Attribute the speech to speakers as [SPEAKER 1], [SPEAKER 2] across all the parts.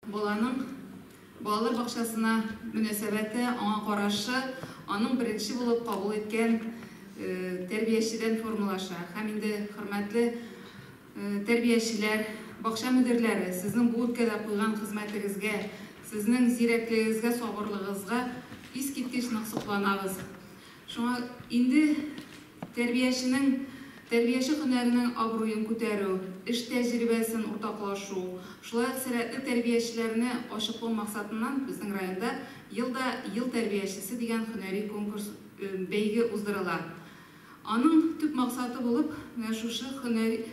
[SPEAKER 1] Баланың балалар бакчасына мөнәсәбәте, аңа карашы, аның беренче булып кабул иткән тәрбиячедән формалаша. Һәм инде, хөрмәтле тәрбиячеләр, бакча мөдирләре, сезнең бу өлкәдә куйган хезмәтегезгә, сезнең зирәклегегезгә, сабырлыгыгызга искиткеч нык сокланабыз. Шуңа инде тәрбияченең тәрбияче һөнәренең абруен күтәрү, эш тәҗрибәсен уртаклашу, шулай ук сәләтле тәрбиячеләрне ачыклау максатыннан безнең районда Елда ел тәрбиячесе дигән һөнәри конкурс, бәйге уздырыла. Аның төп максаты булып менә шушы һөнәри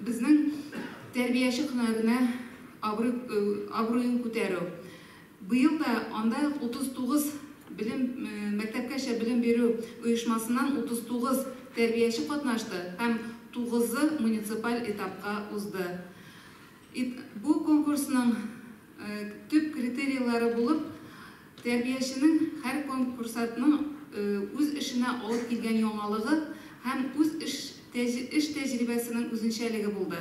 [SPEAKER 1] безнең тәрбияче һөнәренә абруй абруен күтәрү, Быел да анда 39 белем мәктәпкәчә белем бирү оешмасыннан 39 тәрбияче катнашты һәм тугызы муниципаль этапка узды. Ит бу конкурсның төп критерийлары булып, тәрбияченең һәр конкурсатның үз эшенә алып килгән яңалыгы һәм үз эш эш тәҗрибәсенең үзенчәлеге булды.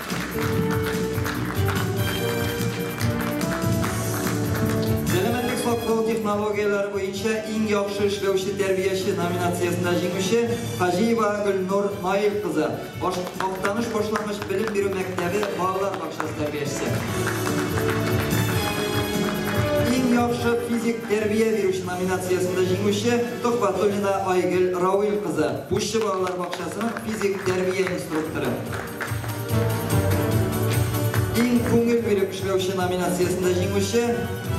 [SPEAKER 2] технологияләр буенча иң яхшы эшләүче тәрбияче номинациясендә җиңүче Хаҗиева Гөлнур Наил кызы, Актаныш башлангыч белем бирү мәктәбе балалар бакчасы тәрбиячесе. Иң яхшы физик тәрбия бирүче номинациясендә җиңүче Тохватуллина Айгөл Рауил кызы, Пуща балалар бакчасының физик тәрбия инструкторы. Иң күңел биреп эшләүче номинациясендә җиңүче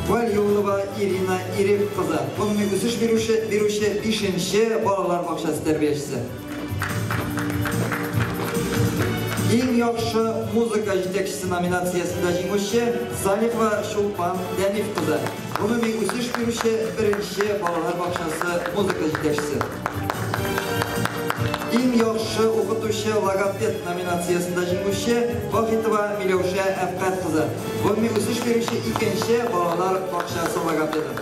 [SPEAKER 2] Валиулова Ирина Ирек кызы, гомуми үсеш бирүче, бирүче 5-нче балалар бакчасы тәрбиячесе. Иң яхшы музыка җитәкчесе номинациясендә җиңүче Салихова Чулпан Дәниф кызы, гомуми үсеш бирүче 1-нче балалар бакчасы музыка җитәкчесе. Иң яхшы укытучы логопед номинациясендә җиңүче Вахитова Миләүшә Әпкать кызы, гомуми үсеш бирүче икенче балалар бакчасы логопеды.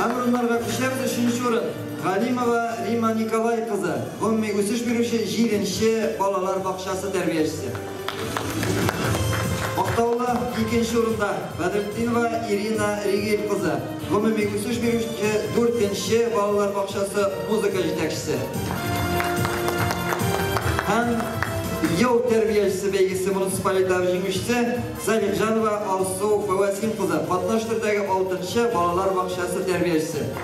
[SPEAKER 2] Һәм урыннарга күчәбез, өченче урын, Галимова Римма Николай кызы, гомуми үсеш бирүче җиденче балалар бакчасы тәрбиячесе. Актаулы икенче урында Бәдретдинова Ирина Ригель кызы, гомуми үсеш бирүче 4-нче балалар бакчасы музыка җитәкчесе. Һәм ел тәрбиячесе бәйгесе муниципаль этабы җиңүчесе Залимҗанова Алсу Фәвәсин кызы, катнаш төрдәге 6-нчы балалар бакчасы тәрбиячесе.